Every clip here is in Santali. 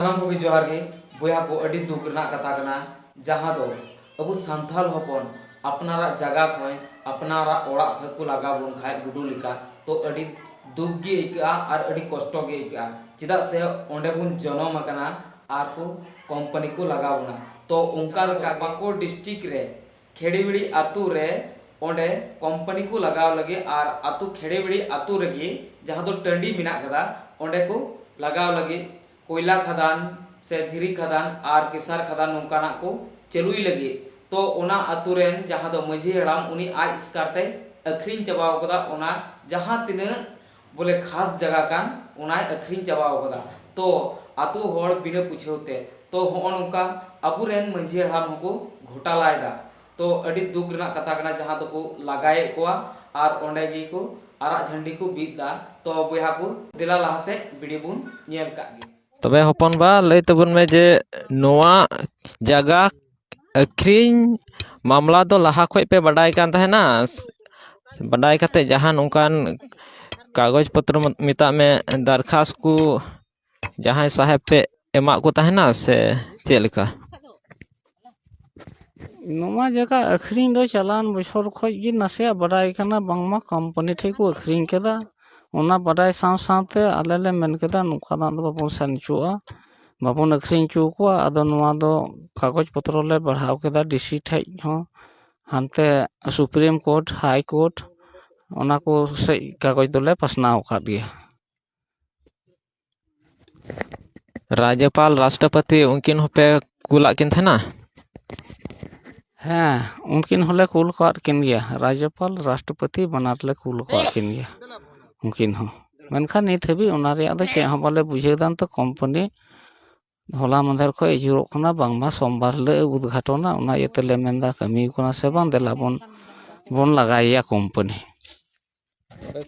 ᱥᱟᱱᱟᱢ ᱠᱚᱜᱮ ᱡᱚᱦᱟᱨ ᱜᱮ ᱵᱚᱭᱦᱟ ᱠᱚ ᱟᱹᱰᱤ ᱫᱩᱠ ᱨᱮᱱᱟᱜ ᱠᱟᱛᱷᱟ ᱠᱟᱱᱟ ᱡᱟᱦᱟᱸ ᱫᱚ ᱟᱵᱚ ᱥᱟᱱᱛᱟᱲ ᱦᱚᱯᱚᱱ ᱟᱯᱱᱟᱨᱟᱜ ᱡᱟᱭᱜᱟ ᱠᱷᱚᱱ ᱟᱯᱱᱟᱨᱟᱜ ᱚᱲᱟᱜ ᱠᱷᱚᱱ ᱠᱚ ᱞᱟᱜᱟ ᱵᱚᱱ ᱠᱷᱟᱱ ᱜᱩᱰᱩ ᱞᱮᱠᱟ ᱛᱚ ᱟᱹᱰᱤ ᱫᱩᱠ ᱜᱮ ᱟᱹᱭᱠᱟᱹᱜᱼᱟ ᱟᱨ ᱟᱹᱰᱤ ᱠᱚᱥᱴᱚ ᱜᱮ ᱟᱹᱭᱠᱟᱹᱜᱼᱟ ᱪᱮᱫᱟᱜ ᱥᱮ ᱚᱸᱰᱮ ᱵᱚᱱ ᱡᱚᱱᱚᱢ ᱟᱠᱟᱱᱟ ᱟᱨ ᱠᱚ ᱠᱳᱢᱯᱟᱱᱤ ᱠᱚ ᱞᱟᱜᱟ ᱵᱚᱱᱟ ᱛᱚ ᱚᱱᱠᱟ ᱞᱮᱠᱟ ᱯᱟᱠᱩᱲ ᱰᱤᱥᱴᱨᱤᱠ ᱨᱮ ᱠᱷᱮᱲᱤᱣᱤᱲᱤ ᱟᱹᱛᱩ ᱨᱮ ᱚᱸᱰᱮ ᱠᱚᱢᱯᱟᱹᱱᱤ ᱠᱚ ᱞᱟᱜᱟᱣ ᱞᱟᱹᱜᱤᱫ ᱟᱨ ᱟᱹᱛᱩ ᱠᱷᱮᱲᱤᱣᱤᱲᱤ ᱟᱹᱛᱩ ᱨᱮᱜᱮ ᱡᱟᱦᱟᱸ ᱫᱚ ᱴᱟᱺᱰᱤ ᱢᱮᱱᱟᱜ ᱟᱠᱟᱫᱟ ᱚᱸᱰᱮ ᱠᱚ ᱞᱟᱜᱟᱣ ᱞᱟᱹᱜᱤᱫ ᱠᱚᱭᱞᱟ ᱠᱷᱟᱫᱟᱱ ᱥᱮ ᱫᱷᱤᱨᱤ ᱠᱷᱟᱫᱟᱱ ᱟᱨ ᱠᱮᱥᱟᱨ ᱠᱷᱟᱫᱟᱱ ᱱᱚᱝᱠᱟᱱᱟᱜ ᱠᱚ ᱪᱟᱹᱞᱩᱭ ᱞᱟᱹᱜᱤᱫ ᱛᱚ ᱚᱱᱟ ᱟᱹᱛᱩ ᱨᱮᱱ ᱡᱟᱦᱟᱸ ᱫᱚ ᱢᱟᱺᱡᱷᱤ ᱦᱟᱲᱟᱢ ᱩᱱᱤ ᱟᱡ ᱮᱥᱠᱟᱨ ᱛᱮᱭ ᱟᱹᱠᱷᱨᱤᱧ ᱪᱟᱵᱟ ᱟᱠᱟᱫᱟ ᱚᱱᱟ ᱡᱟᱦᱟᱸ ᱛᱤᱱᱟᱹᱜ ᱵᱚᱞᱮ ᱠᱷᱟᱥ ᱡᱟᱜᱟ ᱠᱟᱱ ᱚᱱᱟᱭ ᱟᱹᱠᱷᱨᱤᱧ ᱪᱟᱵᱟ ᱟᱠᱟᱫᱟ ᱛᱚ ᱟᱹᱛᱩ ᱦᱚᱲ ᱵᱤᱱᱟᱹ ᱯᱩᱪᱷᱟᱹᱣ ᱛᱮ ᱛᱚ ᱦᱚᱸᱜᱼᱚ ᱱᱚᱝᱠᱟ ᱟᱵᱚ ᱨᱮᱱ ᱢᱟᱹᱡᱷᱤ ᱦᱟᱲᱟᱢ ᱦᱚᱸᱠᱚ ᱜᱷᱚᱴᱟᱞᱟ ᱮᱫᱟ ᱛᱚ ᱟᱹᱰᱤ ᱫᱩᱠ ᱨᱮᱱᱟᱜ ᱠᱟᱛᱷᱟ ᱠᱟᱱᱟ ᱡᱟᱦᱟᱸ ᱫᱚᱠᱚ ᱞᱟᱜᱟᱭᱮᱫ ᱠᱚᱣᱟ ᱟᱨ ᱚᱸᱰᱮ ᱜᱮ ᱠᱚ ᱟᱨᱟᱜ ᱡᱷᱟᱹᱱᱰᱤ ᱠᱚ ᱵᱤᱫ ᱮᱫᱟ ᱛᱚ ᱵᱚᱭᱦᱟ ᱠᱚ ᱫᱮᱞᱟ ᱞᱟᱦᱟ ᱥᱮᱫ ᱵᱷᱤᱰᱤᱭᱳ ᱵᱚᱱ ᱧᱮᱞ ᱠᱟᱜ ᱜᱮ᱾ ᱛᱚᱵᱮ ᱦᱚᱯᱚᱱᱵᱟ ᱞᱟᱹᱭ ᱛᱟᱵᱚᱱ ᱢᱮ ᱡᱮ ᱱᱚᱣᱟ ᱡᱟᱭᱜᱟ ᱟᱹᱠᱷᱨᱤᱧ ᱢᱟᱢᱞᱟ ᱫᱚ ᱞᱟᱦᱟ ᱠᱷᱚᱡ ᱯᱮ ᱵᱟᱰᱟᱭ ᱠᱟᱱ ᱛᱟᱦᱮᱱᱟ ᱵᱟᱰᱟᱭ ᱠᱟᱛᱮ ᱡᱟᱦᱟᱱ ᱚᱱᱠᱟᱱ ᱠᱟᱜᱚᱡᱽ ᱯᱚᱛᱨᱚ ᱢᱮᱛᱟᱜ ᱢᱮ ᱫᱟᱨᱠᱷᱟᱥ ᱠᱚ ᱡᱟᱦᱟᱸᱭ ᱥᱟᱦᱮᱵᱽ ᱯᱮ ᱮᱢᱟᱜ ᱠᱚ ᱛᱟᱦᱮᱱᱟ ᱥᱮ ᱪᱮᱫ ᱞᱮᱠᱟ ᱱᱚᱣᱟ ᱡᱟᱭᱜᱟ ᱟᱹᱠᱷᱨᱤᱧ ᱫᱚ ᱪᱟᱞᱟᱣᱮᱱ ᱵᱚᱪᱷᱚᱨ ᱠᱷᱚᱡ ᱜᱮ ᱱᱟᱥᱮᱭᱟᱜ ᱵᱟᱰᱟᱭ ᱠᱟᱱᱟ ᱵᱟᱝᱢᱟ ᱠᱳᱢᱯᱟᱱᱤ ᱴᱷᱮᱡ ᱠᱚ ᱟᱹᱠᱷᱨᱤᱧ ᱠᱟᱫᱟ ᱚᱱᱟ ᱵᱟᱰᱟᱭ ᱥᱟᱶ ᱥᱟᱶᱛᱮ ᱟᱞᱮ ᱞᱮ ᱢᱮᱱ ᱠᱮᱫᱟ ᱱᱚᱝᱠᱟᱱᱟᱜ ᱫᱚ ᱵᱟᱵᱚᱱ ᱥᱮᱱ ᱦᱚᱪᱚᱣᱟᱜᱼᱟ ᱵᱟᱵᱚᱱ ᱟᱹᱠᱷᱨᱤᱧ ᱦᱚᱪᱚ ᱠᱚᱣᱟ ᱟᱫᱚ ᱱᱚᱣᱟ ᱫᱚ ᱠᱟᱜᱚᱡᱽ ᱯᱚᱛᱨᱚ ᱞᱮ ᱵᱟᱲᱦᱟᱣ ᱠᱮᱫᱟ ᱰᱤ ᱥᱤ ᱴᱷᱮᱡ ᱦᱚᱸ ᱦᱟᱱᱛᱮ ᱥᱩᱯᱨᱤᱢ ᱠᱳᱨᱴ ᱦᱟᱭ ᱠᱳᱨᱴ ᱚᱱᱟ ᱠᱚ ᱥᱮᱡ ᱠᱟᱜᱚᱡᱽ ᱫᱚᱞᱮ ᱯᱟᱥᱱᱟᱣ ᱟᱠᱟᱫ ᱜᱮᱭᱟ ᱨᱟᱡᱽᱡᱚᱯᱟᱞ ᱨᱟᱥᱴᱨᱚᱯᱚᱛᱤ ᱩᱱᱠᱤᱱ ᱦᱚᱸᱯᱮ ᱠᱩᱞᱟᱜ ᱠᱤᱱ ᱛᱟᱦᱮᱱᱟ ᱦᱮᱸ ᱩᱱᱠᱤᱱ ᱦᱚᱸᱞᱮ ᱠᱩᱞ ᱠᱟᱜ ᱠᱤᱱ ᱜᱮᱭᱟ ᱨᱟᱡᱽᱡᱚᱯᱟᱞ ᱨᱟᱥᱴᱨᱚᱯᱚᱛᱤ ᱵᱟᱱᱟᱨ ᱞᱮ ᱠᱩᱞ ᱠᱟᱜ ᱠᱤᱱ ᱜᱮᱭᱟ ᱩᱱᱠᱤᱱ ᱦᱚᱸ ᱢᱮᱱᱠᱷᱟᱱ ᱱᱤᱛ ᱦᱟᱹᱵᱤᱡ ᱚᱱᱟ ᱨᱮᱭᱟᱜ ᱫᱚ ᱪᱮᱫ ᱦᱚᱸ ᱵᱟᱞᱮ ᱵᱩᱡᱷᱟᱹᱣ ᱫᱟ ᱱᱤᱛᱚᱜ ᱠᱳᱢᱯᱟᱱᱤ ᱦᱚᱞᱟ ᱢᱟᱫᱷᱮᱨ ᱠᱷᱚᱡ ᱟᱹᱪᱩᱨᱚᱜ ᱠᱟᱱᱟ ᱵᱟᱝᱢᱟ ᱥᱳᱢᱵᱟᱨ ᱦᱤᱞᱳᱜ ᱮ ᱩᱫᱽᱜᱷᱟᱴᱚᱱᱟ ᱚᱱᱟ ᱤᱭᱟᱹ ᱛᱮᱞᱮ ᱢᱮᱱᱫᱟ ᱠᱟᱹᱢᱤ ᱠᱟᱱᱟ ᱥᱮ ᱵᱟᱝ ᱫᱮᱞᱟ ᱵᱚᱱ ᱵᱚᱱ ᱞᱟᱜᱟᱭᱮᱭᱟ ᱠᱳᱢᱯᱟᱱᱤ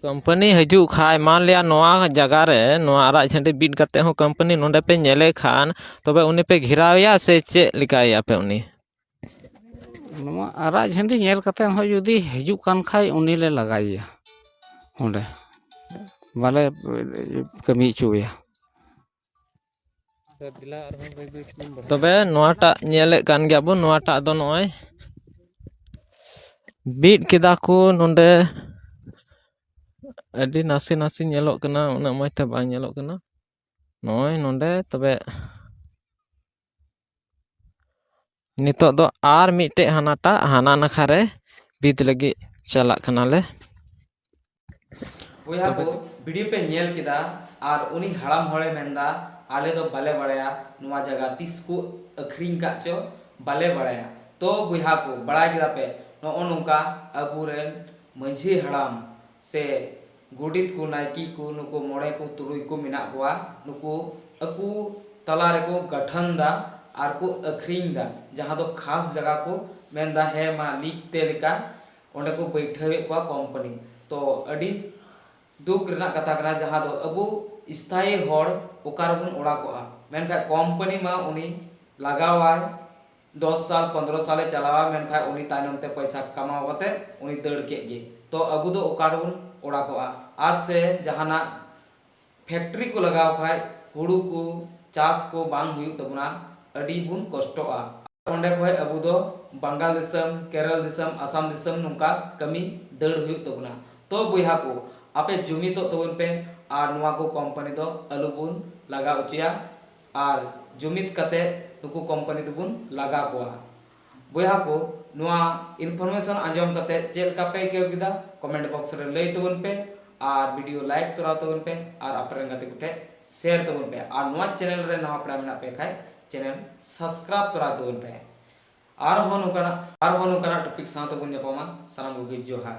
ᱠᱳᱢᱯᱟᱱᱤ ᱦᱤᱡᱩᱜ ᱠᱷᱟᱡ ᱢᱟᱱᱞᱤᱭᱟ ᱱᱚᱣᱟ ᱡᱟᱭᱜᱟ ᱨᱮ ᱱᱚᱣᱟ ᱟᱨᱟᱜ ᱡᱷᱟᱹᱰᱤ ᱵᱤᱫ ᱠᱟᱛᱮ ᱦᱚᱸ ᱠᱳᱢᱯᱟᱱᱤ ᱱᱚᱰᱮ ᱯᱮ ᱧᱮᱞᱮ ᱠᱷᱟᱱ ᱛᱚᱵᱮ ᱩᱱᱤ ᱯᱮ ᱜᱷᱮᱨᱟᱣᱮᱭᱟ ᱥᱮ ᱪᱮᱫ ᱞᱮᱠᱟᱭᱮᱭᱟ ᱯᱮ ᱩᱱᱤ ᱱᱚᱣᱟ ᱟᱨᱟᱜ ᱡᱷᱟᱹᱰᱤ ᱧᱮᱞ ᱠᱟᱛᱮ ᱦᱚᱸ ᱡᱩᱫᱤ ᱦᱤᱡᱩᱜ ᱠᱟᱱ ᱠᱷᱟᱡ ᱩᱱᱤ ᱞᱮ ᱞᱟᱜᱟᱭᱮᱭᱟ ᱚᱸᱰᱮ ᱵᱟᱞᱮ ᱠᱟᱹᱢᱤ ᱦᱚᱪᱚᱣᱟᱭᱟ ᱛᱚᱵᱮ ᱱᱚᱣᱟᱴᱟᱜ ᱧᱮᱞᱮᱫ ᱠᱟᱱ ᱜᱮᱭᱟᱵᱚᱱ ᱱᱚᱣᱟᱴᱟᱜ ᱫᱚ ᱱᱚᱜᱼᱚᱭ ᱵᱤᱫ ᱠᱮᱫᱟ ᱠᱚ ᱱᱚᱰᱮ ᱟᱹᱰᱤ ᱱᱟᱥᱮ ᱱᱟᱥᱮ ᱧᱮᱞᱚᱜ ᱠᱟᱱᱟ ᱩᱱᱟᱹᱜ ᱢᱚᱡᱽ ᱛᱮ ᱵᱟᱝ ᱧᱮᱞᱚᱜ ᱠᱟᱱᱟ ᱱᱚᱜᱼᱚᱭ ᱱᱚᱰᱮ ᱛᱚᱵᱮ ᱱᱤᱛᱚᱜ ᱫᱚ ᱟᱨ ᱢᱤᱫᱴᱮᱡ ᱦᱟᱱᱟᱴᱟᱜ ᱦᱟᱱᱟ ᱱᱟᱠᱷᱟ ᱨᱮ ᱵᱤᱫ ᱞᱟᱹᱜᱤᱫ ᱪᱟᱞᱟᱜ ᱠᱟᱱᱟᱞᱮ ᱵᱚᱭᱦᱟ ᱠᱚ ᱵᱷᱤᱰᱤᱭᱳ ᱯᱮ ᱧᱮᱞ ᱠᱮᱫᱟ ᱟᱨ ᱩᱱᱤ ᱦᱟᱲᱟᱢ ᱦᱚᱲᱮ ᱢᱮᱱᱫᱟ ᱟᱞᱮ ᱫᱚ ᱵᱟᱞᱮ ᱵᱟᱲᱟᱭᱟ ᱱᱚᱣᱟ ᱡᱟᱭᱜᱟ ᱛᱤᱥ ᱠᱚ ᱟᱹᱠᱷᱨᱤᱧ ᱠᱟᱜ ᱪᱚ ᱵᱟᱞᱮ ᱵᱟᱲᱟᱭᱟ ᱛᱚ ᱵᱚᱭᱦᱟ ᱠᱚ ᱵᱟᱲᱟᱭ ᱠᱮᱫᱟ ᱯᱮ ᱱᱚᱜᱼᱚ ᱱᱚᱝᱠᱟ ᱟᱵᱚᱨᱮᱱ ᱢᱟᱺᱡᱷᱤ ᱦᱟᱲᱟᱢ ᱥᱮ ᱜᱚᱰᱮᱛ ᱠᱚ, ᱱᱟᱭᱠᱮ ᱠᱚ, ᱱᱩᱠᱩ ᱢᱚᱬᱮ ᱠᱚ ᱛᱩᱨᱩᱭ ᱠᱚ ᱢᱮᱱᱟᱜ ᱠᱚᱣᱟ ᱱᱩᱠᱩ ᱟᱠᱚ ᱛᱟᱞᱟ ᱨᱮᱠᱚ ᱜᱟᱹᱴᱷᱟᱹᱱ ᱫᱟ ᱟᱨ ᱠᱚ ᱟᱹᱠᱷᱨᱤᱧ ᱫᱟ ᱡᱟᱦᱟᱸ ᱫᱚ ᱠᱷᱟᱥ ᱡᱟᱭᱜᱟ ᱠᱚ ᱢᱮᱱ ᱫᱟ ᱦᱮᱸ ᱢᱟ ᱞᱤᱡ ᱯᱮ ᱞᱮᱠᱟ ᱚᱸᱰᱮ ᱠᱚ ᱵᱟᱹᱭᱴᱷᱟᱹᱣ ᱮᱫ ᱠᱚᱣᱟ ᱠᱚᱢᱯᱟᱹᱱᱤ ᱛᱚ ᱟᱹᱰᱤ ᱫᱩᱠ ᱨᱮᱱᱟᱜ ᱠᱟᱛᱷᱟ ᱠᱟᱱᱟ ᱡᱟᱦᱟᱸ ᱫᱚ ᱟᱵᱚ ᱤᱥᱛᱷᱟᱭᱤ ᱦᱚᱲ ᱚᱠᱟ ᱨᱮᱵᱚᱱ ᱚᱲᱟᱜᱚᱜᱼᱟ ᱢᱮᱱᱠᱷᱟᱱ ᱠᱚᱢᱯᱟᱹᱱᱤ ᱢᱟ ᱩᱱᱤ ᱞᱟᱜᱟᱣᱟᱭ ᱫᱚᱥ ᱥᱟᱞ ᱯᱚᱸᱫᱽᱨᱚ ᱥᱟᱞ ᱮ ᱪᱟᱞᱟᱣᱟ ᱢᱮᱱᱠᱷᱟᱡ ᱩᱱᱤ ᱛᱟᱭᱱᱚᱢ ᱛᱮ ᱯᱚᱭᱥᱟ ᱠᱟᱢᱟᱣ ᱠᱟᱛᱮ ᱩᱱᱤ ᱫᱟᱹᱲ ᱠᱮᱫ ᱜᱮ ᱛᱚ ᱟᱵᱚ ᱫᱚ ᱚᱠᱟ ᱨᱮᱵᱚᱱ ᱚᱲᱟᱜᱚᱜᱼᱟ ᱟᱨ ᱥᱮ ᱡᱟᱦᱟᱱᱟᱜ ᱯᱷᱮᱠᱴᱨᱤ ᱠᱚ ᱞᱟᱜᱟᱣ ᱠᱷᱟᱡ ᱦᱩᱲᱩ ᱠᱚ ᱪᱟᱥ ᱠᱚ ᱵᱟᱝ ᱦᱩᱭᱩᱜ ᱛᱟᱵᱚᱱᱟ ᱟᱹᱰᱤ ᱵᱚᱱ ᱠᱚᱥᱴᱚᱜᱼᱟ ᱟᱨ ᱚᱸᱰᱮ ᱠᱷᱚᱡ ᱟᱵᱚ ᱫᱚ ᱵᱟᱝᱜᱟᱞ ᱫᱤᱥᱚᱢ ᱠᱮᱨᱚᱞ ᱫᱤᱥᱚᱢ ᱟᱥᱟᱢ ᱫᱤᱥᱚᱢ ᱱᱚᱝᱠᱟ ᱠᱟᱹᱢᱤ ᱫᱟᱹᱲ ᱦᱩᱭᱩᱜ ᱛᱟᱵᱚᱱᱟ ᱛᱚ ᱵᱚᱭᱦᱟ ᱠᱚ ᱟᱯᱮ ᱡᱩᱢᱤᱫᱚᱜ ᱛᱟᱵᱚᱱ ᱯᱮ ᱟᱨ ᱱᱚᱣᱟ ᱠᱚ ᱠᱚᱢᱯᱟᱱᱤ ᱫᱚ ᱟᱞᱚ ᱵᱚᱱ ᱞᱟᱜᱟᱣ ᱚᱪᱚᱭᱟ ᱟᱨ ᱡᱩᱢᱤᱫ ᱠᱟᱛᱮ ᱱᱩᱠᱩ ᱠᱚᱢᱯᱟᱱᱤ ᱫᱚᱵᱚᱱ ᱞᱟᱜᱟ ᱠᱚᱣᱟ᱾ ᱵᱚᱭᱦᱟ ᱠᱚ ᱱᱚᱣᱟ ᱤᱱᱯᱷᱚᱨᱢᱮᱥᱚᱱ ᱟᱸᱡᱚᱢ ᱠᱟᱛᱮ ᱪᱮᱫ ᱞᱮᱠᱟ ᱯᱮ ᱟᱹᱭᱠᱟᱹᱣ ᱠᱮᱫᱟ ᱠᱚᱢᱮᱱᱴ ᱵᱚᱠᱥ ᱨᱮ ᱞᱟᱹᱭ ᱛᱟᱵᱚᱱ ᱯᱮ ᱟᱨ ᱵᱷᱤᱰᱤᱭᱳ ᱞᱟᱭᱤᱠ ᱛᱚᱨᱟᱣ ᱛᱟᱵᱚᱱ ᱯᱮ ᱟᱨ ᱟᱯᱮ ᱨᱮᱱ ᱜᱟᱛᱮ ᱠᱚᱴᱷᱮᱡ ᱥᱮᱭᱟᱨ ᱛᱟᱵᱚᱱ ᱯᱮ ᱟᱨ ᱱᱚᱣᱟ ᱪᱮᱱᱮᱞ ᱨᱮ ᱱᱟᱣᱟ ᱯᱮᱲᱟ ᱢᱮᱱᱟᱜ ᱯᱮ ᱠᱷᱟᱡ ᱪᱮᱱᱮᱞ ᱥᱟᱥᱠᱨᱟᱵ ᱛᱚᱨᱟᱣ ᱛᱟᱵᱚᱱ ᱯᱮ ᱟᱨᱦᱚᱸ ᱱᱚᱝᱠᱟᱱᱟᱜ ᱟᱨᱦᱚᱸ ᱱᱚᱝᱠᱟᱱᱟᱜ ᱴᱚᱯᱤᱠ ᱥᱟᱶ ᱛᱮᱵᱚᱱ ᱧᱟᱯᱟᱢᱟ ᱥᱟᱱᱟᱢ ᱠᱚᱜᱮ ᱡᱚᱦᱟᱨ᱾